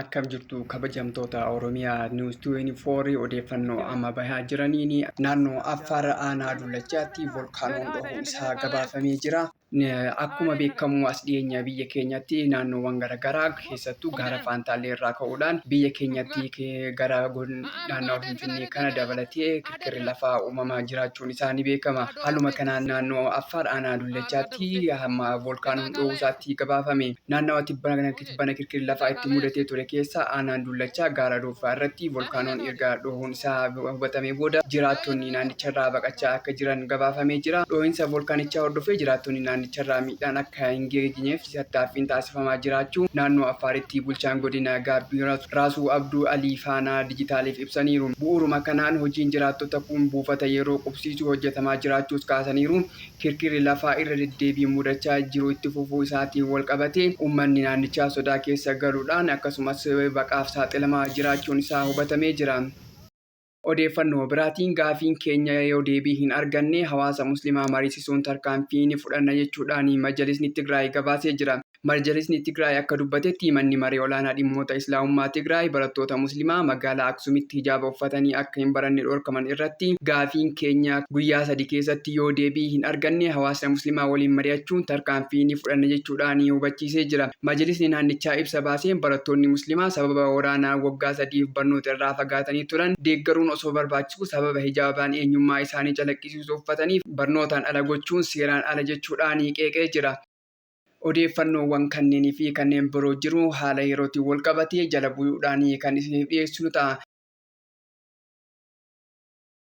Akkam jirtu kabajamtoota Oromiyaa News 24 odeeffannoo amma bahaa jiraniin naannoo Affaar aanaa Dullachaatti volkaanoon dhohuu isaa gabaafamee jira. Akkuma beekamu as dhiyeenya biyya keenyatti naannoowwan garaagaraa keessattuu gaara faantaallee irraa ka'uudhaan biyya keenyatti gara naannawa Finfinnee kana dabalatee kirkirri lafaa uumamaa jiraachuun isaa ni beekama. Haaluma kanaan naannoo Affaar aanaa Dullachaatti amma volkaanoon dho'uu isaatti gabaafame. Naannawa tibbana Tibbana kirkirri lafaa itti mudatee ture keessaa aanaan Dullachaa gaara Ruuffaa irratti volkaanoon erga dhoohuun isaa hubatamee booda jiraattonni naannicharraa baqachaa akka jiran gabaafamee jira. Dhoohinsa volkaanichaa hordofee jiraattonni naannicharraa miidhaan akka hin geegineef tattaaffiin taasifamaa jiraachuu naannoo Affaaritti bulchaan godina Gaabbii Raasuu Abduu Alii Faanaa Dijitaaliif ibsaniiru. Bu'uuruma kanaan hojiin jiraattota kuun buufata yeroo qubsiisuu hojjetamaa jiraachuus kaasaniiru. Kirkirri lafaa irra deddeebiin mudachaa jiru itti fufuu isaatiin walqabatee uummanni naannichaa sodaa keessa galuudhaan akkasumas baqaaf saaxilamaa jiraachuun isaa hubatamee jira. Odeeffannoo biraatiin gaafiin keenya yoo deebii hin arganne hawaasa muslimaa mariisisuun tarkaanfii ni fudhanna jechuudhaan Majalisni Tigraay gabaasee jira. Marjalisni Tigraay akka dubbatetti Manni Maree Olaanaa Dhimmoota Islaamummaa Tigraay barattoota Muslimaa magaalaa Aksumitti hijaaba uffatanii akka hin baranne dhorkaman irratti gaafiin keenya guyyaa sadi keessatti yoo deebii hin arganne hawaasna Muslimaa waliin mari'achuun tarkaanfii ni fudhanna jechuudhaan hubachiisee jira. Majalisni naannichaa ibsa baaseen barattoonni Muslimaa sababa waraanaan waggaa sadiif barnoota irraa fagaatanii turan deeggaruun osoo barbaachisuu sababa hijaabaan eenyummaa isaanii calaqqisiisu uffataniif barnootaan ala gochuun seeraan ala jechuudhaan qeeqee jira. Odeeffannoowwan kanneenii fi kanneen biroo jiru haala yerootiin wal qabatee jala buyuudhaan kan isiniif dhiyeessinu ta'a.